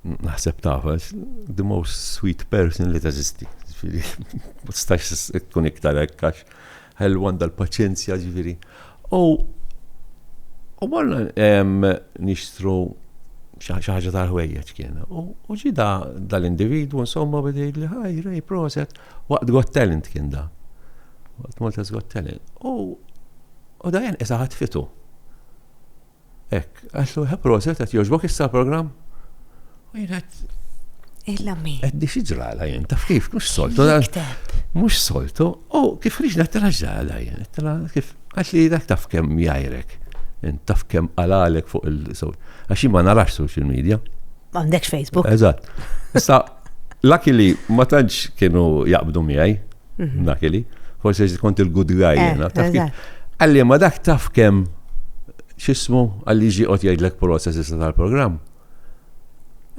naħseb tafa, the most sweet person li teżisti. Stax tkun iktar ekkax. Ħelu għandha l-paċenzja, ġifieri. U u morna nixtru xi ħaġa tal-ħwejjeġ kien. U ġi da dal-individwu insomma beda jgħidli ħaj, rej, proset, waqt Got Talent kien da. Waqt Malta's Got Talent. U u da jen isa ħatfitu. Hekk, għaxlu, ha proset, qed jogħġbok issa l-programm? U jien qed Illa mi. Qed di ġrala jien, taf kif, mhux soltu. Mhux soltu, u kif riġna tela ġrala jien, tela kif għax li dak taf kemm jajrek, taf kemm għalalek fuq il-sowt. Għax ma narax social media. M'għandekx Facebook. Eżatt. Issa Luckily, ma tantx kienu jaqbdu miegħi, mhm. luckily, forse kont il-good guy eh, jena. Għalli, ma dak taf kem xismu għalli ġi għot jgħidlek prosa s tal-program.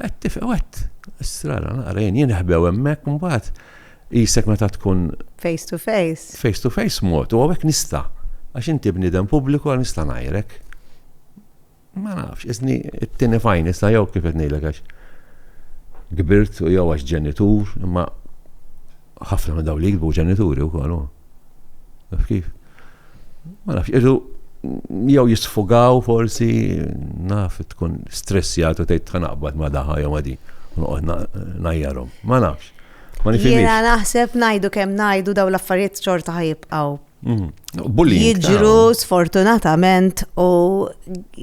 Għet tifqa, għet, strana, naqrejn, jien ħbew emmek, mbaħt, jisek meta tkun. Face to face. Face to face mot, u għawek nista. Għax inti bnidem publiku għal nista najrek. Ma nafx, isni t-tieni fajn issa jew kif qed ngħidlek għax kbirt u jew għax ġenitur, imma ħafna minn dawn li jikbu ġenituri wkoll. Naf kif? Ma nafx, irdu jew jisfugaw forsi naf tkun stressjat u tgħid tħanaqbad ma daħħa jew ma din. Noqgħod najjarhom. Ma nafx. Ma nifhimx. Jiena naħseb ngħidu kemm ngħidu daw l-affarijiet xorta ħajibqgħu Bullying. Jiġru ah. sfortunatament u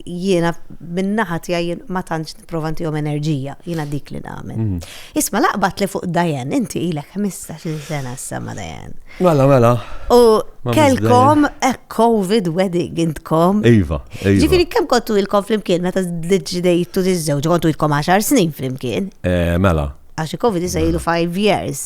jiena minnaħat jien ma tantx nipprova ntihom enerġija, jiena dik li nagħmel. Mhm. Isma laqbat li fuq Dajen, inti ilek 15 sena s-sama Dajen. Mela, mela. U kelkom a covid wedding intkom. Iva, iva. Ġifieri kemm kontu ilkom flimkien meta ġdejtu tiżżewġ kontu ilkom 10 snin flimkien. Eh, mela. Għax covid iżajlu 5 years.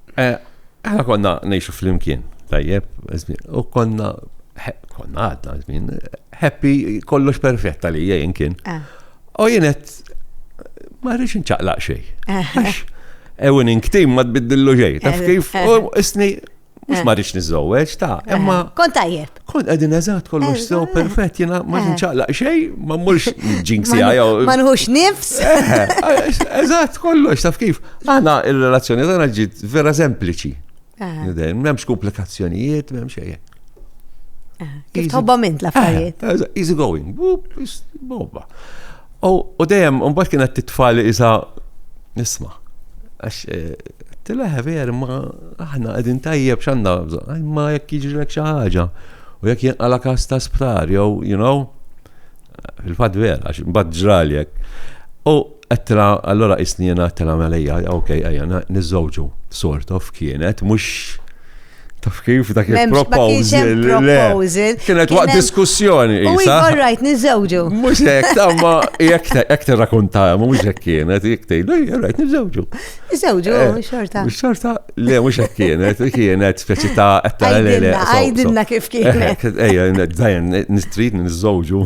Eh, aħna konna nejxu fl-imkien, tajjeb, u konna, konna għadna, zmin, happy, kollox perfett li jgħin kien. Eh. U jenet, ma rridx nċaqlaq xej. Eh. Ewin inktim ma tbiddillu xej, taf kif, u isni, mux ma rridx nizzoweċ, ta' emma. Kont tajjeb. Kont għedin eżat kollox sew eh, perfett, jena ma eh. nċaqlaq xej, ma mmurx ġinksi għajaw. Ma nħux nifs. Eżat kollox, taf kif. Għana il-relazzjoni għana ġit vera sempliċi. Eh. Memx komplikazzjonijiet, memx xej. Kif tħobba mint l-affarijiet. Easy going, bobba. U dejjem, mbagħad kien qed titfali isa nisma. Għax eh, tilaħ ver, ma aħna qegħdin tajjeb x'għandna bżonn, imma jekk jiġrilek xi ħaġa u jekk jinqala kas ta' sptar jew, you know, fil-fatt ver, għax mbagħad ġraljek. U għettila, allora isnina għettila melija, ok, għajja, nizzawġu, sort of kienet, mux Taf kif dak il-proposal. proposal. Kienet waqt diskussjoni. U jgħor rajt nizzewġu. Mux jek, tamma jek jek t-rakunta, mux jek kienet, jek tejdu, jgħor rajt nizzewġu. Nizzewġu, eh, xorta. Xorta, le, mux jek kienet, kienet speċi ta' għetta l-le. Għajdinna kif kienet. Ejja, dajen, nistrid nizzewġu.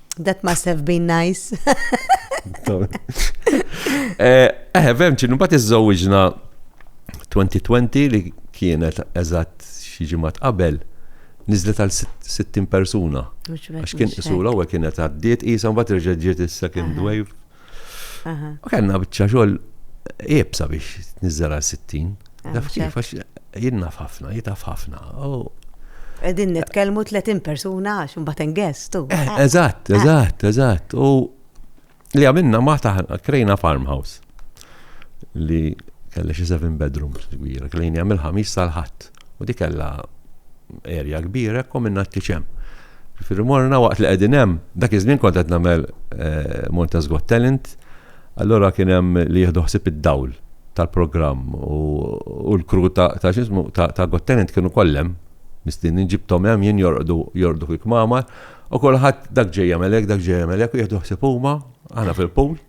That must have been nice. Eh, eh, vem ċinu, bat iż-żawġna 2020 li kienet eżatt xi ġimgħat qabel nizlet għal 60 persuna. Għax kien isu l-ewwel kienet għaddiet qisha mbagħad reġa' ġiet issa kien dwejf. U kellna biċċa xogħol iebsa biex niżżara 60. Ah, Naf kif għax jinnaf ħafna, jitaf ħafna. Qegħdin nitkellmu 30 persuna għax imbagħad ingestu. Eh, eh. Eżatt, eh. eżatt, eżatt. U li għamilna ma taħna krejna farmhouse li kelli xi seven bedrooms kbira, klejni għamil ħamis tal-ħadd. U di kellha erja kbira hekk u minna t-tieġ hemm. Ġifieri morna waqt li qegħdin hemm, dak iż-żmien kont qed nagħmel Malta's Got Talent, allura kien hemm li jieħdu ħsieb id-dawl tal-programm u l-crew ta' x'ismu ta' Got Talent kienu kollha hemm mistinin, ġibthom hemm jien jorqdu jorqdu fil-kmamar u kulħadd dak ġej jagħmel hekk, dak ġej jagħmel hekk u jieħdu ħsieb huma, aħna fil-pool.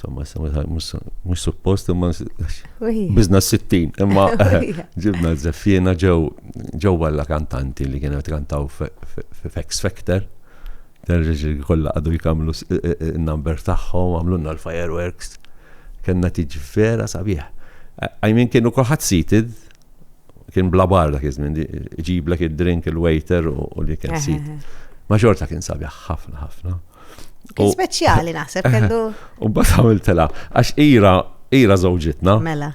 Insomma, mux suppost, imma bizna s-sittin, imma ġibna z-zeffina ġew ġew għalla kantanti li kienu kantaw f'X Factor. Terġi kolla għadu jkamlu n-number taħħom, għamlunna l-fireworks. Kenna tiġi vera sabiħ. Għajmin kienu kolħat seated, kien bla barra kizmin, ġiblek id-drink il-waiter u li kien seated. Ma xorta kien sabiħ ħafna ħafna. Kien speċjali naħseb kellu. U bat għamiltela, għax ira, ira zawġitna. Mela.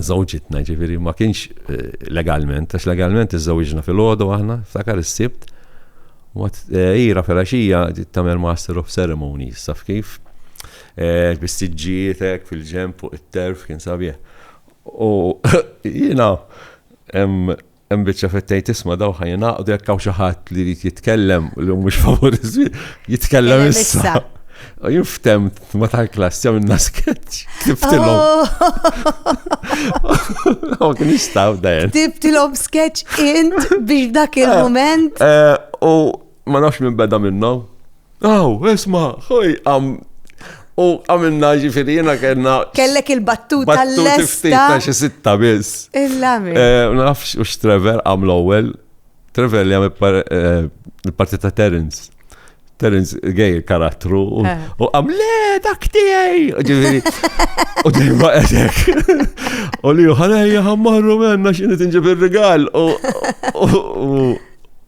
Zawġitna ġifiri ma kienx eh, legalment, għax legalment iż-zawġna fil-ħodu aħna, ftakar is-sibt. Eh, ira fil-axija tamer Master of Ceremonies, saf kif? Eh, Bistiġġietek fil-ġemp fuq it-terf kien sabieħ. U jina, Hemm biċċa fejn tgħid isma' daw ħa jingħaqdu jekk hawn xi ħadd li jrid jitkellem li mhux favur jitkellem issa. Jiftem ma tal-klass jew inna sketch. Kiftilhom. Oh. kien jistaw dajen. Kiftilhom sketch int biex dak il-moment. Eh, eh, u ma nafx minn beda minnhom. Aw, esma, ħoj, għam. U għamilna ġifiri jena kena. Kellek il-battuta l-lesta. Ta' xi sitta biss. Il-lami. Eh, nafx u x-Trevor għam l-ewel. Trevor li għam eh, il-parti ta' Terence. Terence gay karattru u eh. għam le dak tiegħi. Ġifieri. U dejma għedek. U li ħanejja ħammarru menna x'inhi tinġib ir-rigal. U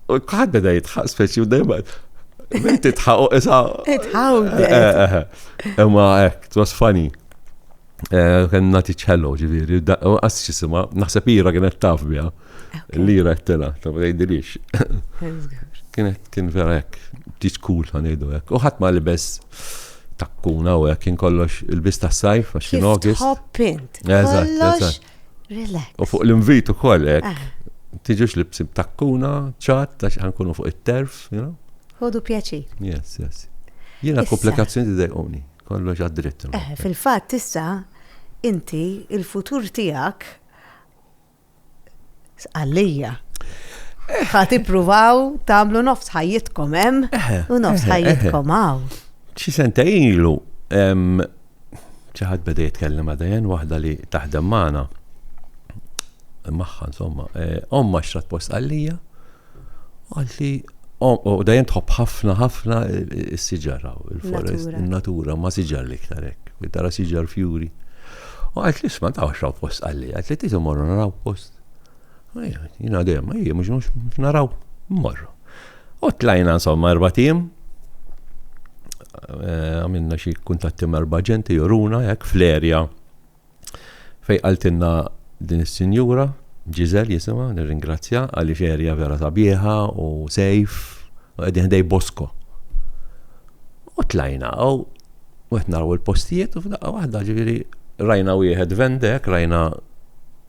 U kħad beda jitħaq speċi u dejma. Bint titħaq u issa. Titħaw. Imma ek, it was funny. Eh, kien nati ċello ġiviri, u għas ċisima, naħseb ira kienet taf bija. L-ira t-tela, ta' bdejdilix. Kienet kien vera ek, tis cool għanidu ek. U ħatma li bes takkuna u ek, kien kollox il-bis ta' sajf, għax kien August. Hoppint. Eżatt, eżatt. Relax. U fuq l-invit ukoll hekk. Ah. Tiġux li bsim takkuna, ċat, ta' xi ħankunu fuq it-terf, you know? Ħodu pjaċir. Yes, yes. Jiena komplikazzjoni dejquni, kollox għad-dritt. Eh, fil-fatt issa inti il-futur tiegħek għalija. Eh. Ħat ippruvaw tagħmlu nofs ħajjitkom hemm eh, u nofs ħajjitkom hawn. Xi sentejn ilu xi ħadd beda jitkellem ma' Diane, waħda li taħdem magħna, magħha insomma, eh, omma xtrat post għalija, u għalt li u dajem tħobb ħafna ħafna s-siġara, il-forest, il-natura, ma siġar li iktar hekk, li tara siġar fjuri. U għalt li sma ta' xraw post għalli, għalt li titu morru naraw post. Jina dem, ej, mux mux naraw, morru. U tlajna insomma erba' tim. Eh, għamilna xi kuntatti erba' ġenti juruna hekk fl-erja fej qaltilna din is-sinjura Ġizel jisimha nirringrazzja għaliex erja vera sabiħa u sejf u qegħdin ħdej Bosko. U tlajna u qed naraw il-postijiet u f'daqqa waħda ġifieri rajna wieħed vendek, rajna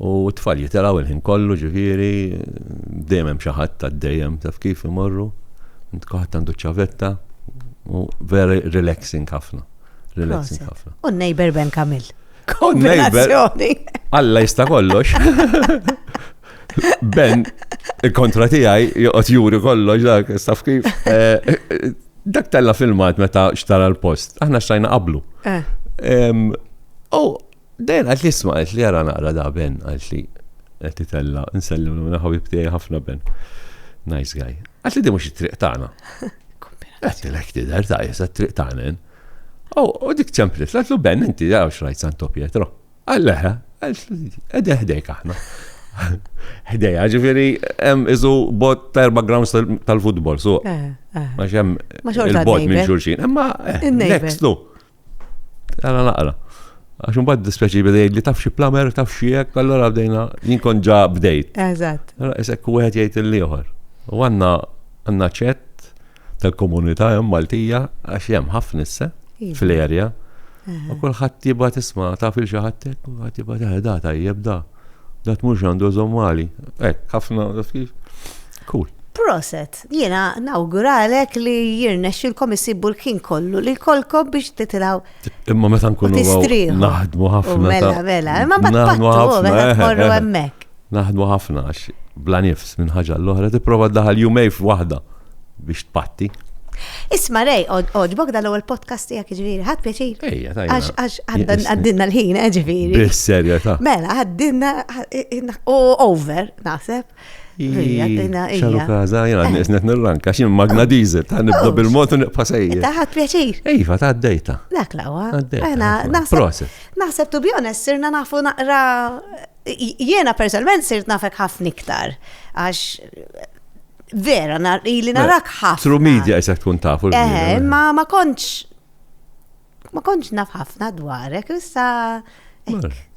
U t-tfal jitilgħu il-ħin kollu, ġifieri, dejjem hemm xi ħadd għaddejjem, taf kif, imorru, kulħadd għandu ċ-ċavetta, u very relaxing ħafna. Relaxing ħafna. U n-neighbor Ben Kamil. Kombinazzjoni. Alla jista' kollox. Ben, il-kontra tiegħi joqgħod juri kollox dak, taf kif. Eh, dak tella filmat meta xtara l-post, aħna xtajna qablu. Eh. U Dejn qaltli isma' qaltli ara naqra da Ben qaltli qed titella' nsellimlu minn ħabib tiegħi ħafna Ben. Nice guy. Qaltli din mhux it-triq tagħna. Għedtilek tidher ta' qiesha t-triq tagħna din. U dik ċemplet qaltlu Ben inti ara x'rajt Santo Pietro. Qal leha. Qegħdin ħdejk aħna. Ħdejha ġifieri hemm qisu bogħod ta' erba' grounds tal-futbol suq. Għax hemm il-bogħod minn xulxin. Imma next to. Għana naqra. Għax mbagħad dispjaċi bidejt li taf xi plamer, taf xi hekk, allura bdejna jinkon ġa bdejt. Eżatt. Allora isek wieħed jgħid il-ieħor. U għandna għandna ċett tal-komunità hemm Maltija għax hemm ħafna issa iva. fl-erja. U kulħadd jibgħat isma' taf il xi ħadd hekk, kulħadd jibgħat eh, da tajjeb da. Dat mhux għandu żommali. Hekk ħafna kif. Cool. Proset. Jiena nawguralek li jirnexxilkom issibu l-ħin kollu li jkollkom biex titilgħu. Imma meta nkunu naħdmu ħafna. Mela, mela, imma ma tnaħdmu ħafna. Eh, eh, eh. hemmhekk. Naħdmu ħafna għax bla nifs minn ħaġa l-oħra tipprova daħal jumej f'waħda biex tpatti. Isma rej, oġbok dal ewwel podcast tijak ġviri, ħad pjaċir. Ejja, tajja. Għax għaddinna l-ħin, ġviri. Bis-serjeta. Mela, għaddinna, u over, naħseb. ċaru kaza, jena nisnet nirranka, xin magna dizel, ta' nibda bil-motu nibqa sejjer. Taħat pjaċir. Iva, ta' d-dejta. Dak lawa. Naħseb tu bjones, sirna nafu naqra, jena personalment sirt nafek ħafna iktar, għax vera, li narak ħafna. Tru media jisek tkun tafu. Ma ma konċ Ma kontx naf ħafna dwarek, issa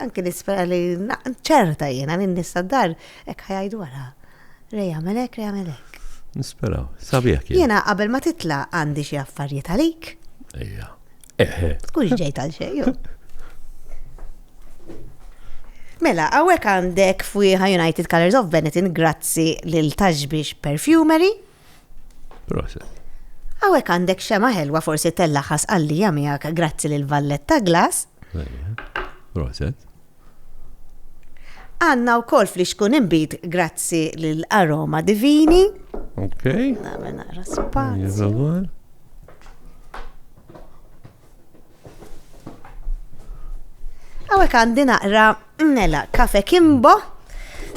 anke nispera li ċerta jiena li nista dar hekk ħajaj dwarha. Rej għamelek, rej għamelek. Nisperaw, sabiħ kien. Jiena qabel ma titla għandi xi affarijiet għalik. Ejja. Eħe. Tkunx ġejt għal xejn. Mela, għawek għandek fuiħa United Colors of Benetton grazzi lil Taxbix Perfumery. Proset. Għawek għandek xema ħelwa forsi tellaħas għallija miegħek grazzi lil Valletta Glass. Proset. Għanna u kol fli xkun imbit grazzi lil Aroma Divini. Ok. Għamena raspat. Għawek għandi naqra mela kafe kimbo.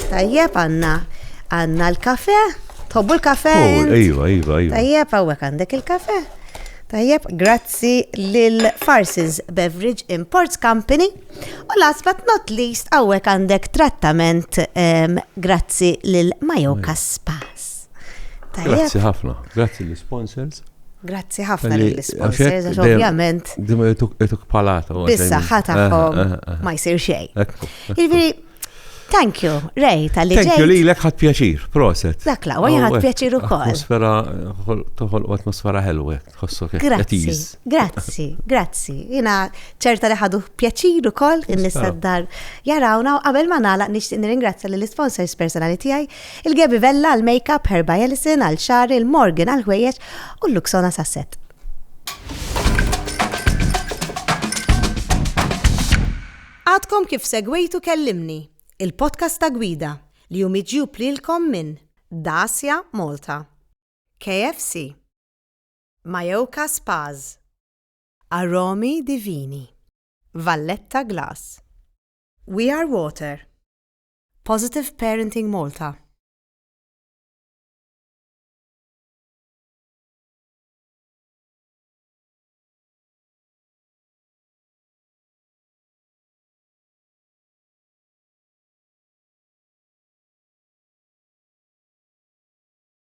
Tajjeb għanna għanna l-kafe. Tobbu l-kafe? Oh, ejwa, ejwa, ejwa. Tajjeb għawek għandek il-kafe. Tajjeb, grazzi lil Farsons Beverage Imports Company. U last but not least, għawek għandek trattament um, grazzi lil Majoka Spas. Grazzi ħafna, grazzi l-sponsors. Grazzi ħafna lill-isponsors, għax ovvjament. Dim ituk palata. Bissa ħatakom eh, eh, eh. ma jsir xej. Jiġifieri, thank you, Ray, tal-li ġej. Thank you li l-ek ħad pjaċir, proset. Dak la, għaj ħad pjaċir u koll. Atmosfera, toħol u atmosfera ħelwe, tħossu kif. Grazzi, grazzi, grazzi. Jina ċerta li ħadu pjaċir u koll, in-nisaddar jarawna u qabel ma nala nishtiq nirringrazzja lill-isponsors personali tijaj Il-Gaby Vella għall-makeup, Herba Ellison għall-xagħar, il-Morgan għall-ħwejjeġ u l-Luxona sas-set. Għadkom kif segwejtu Kellimni, il-podcast ta' Gwida li hu miġjub lilkom minn Dacia Malta, KFC, Majoka Spas, Aromi Divini, Valletta Glass, We Are Water, Positive Parenting Malta.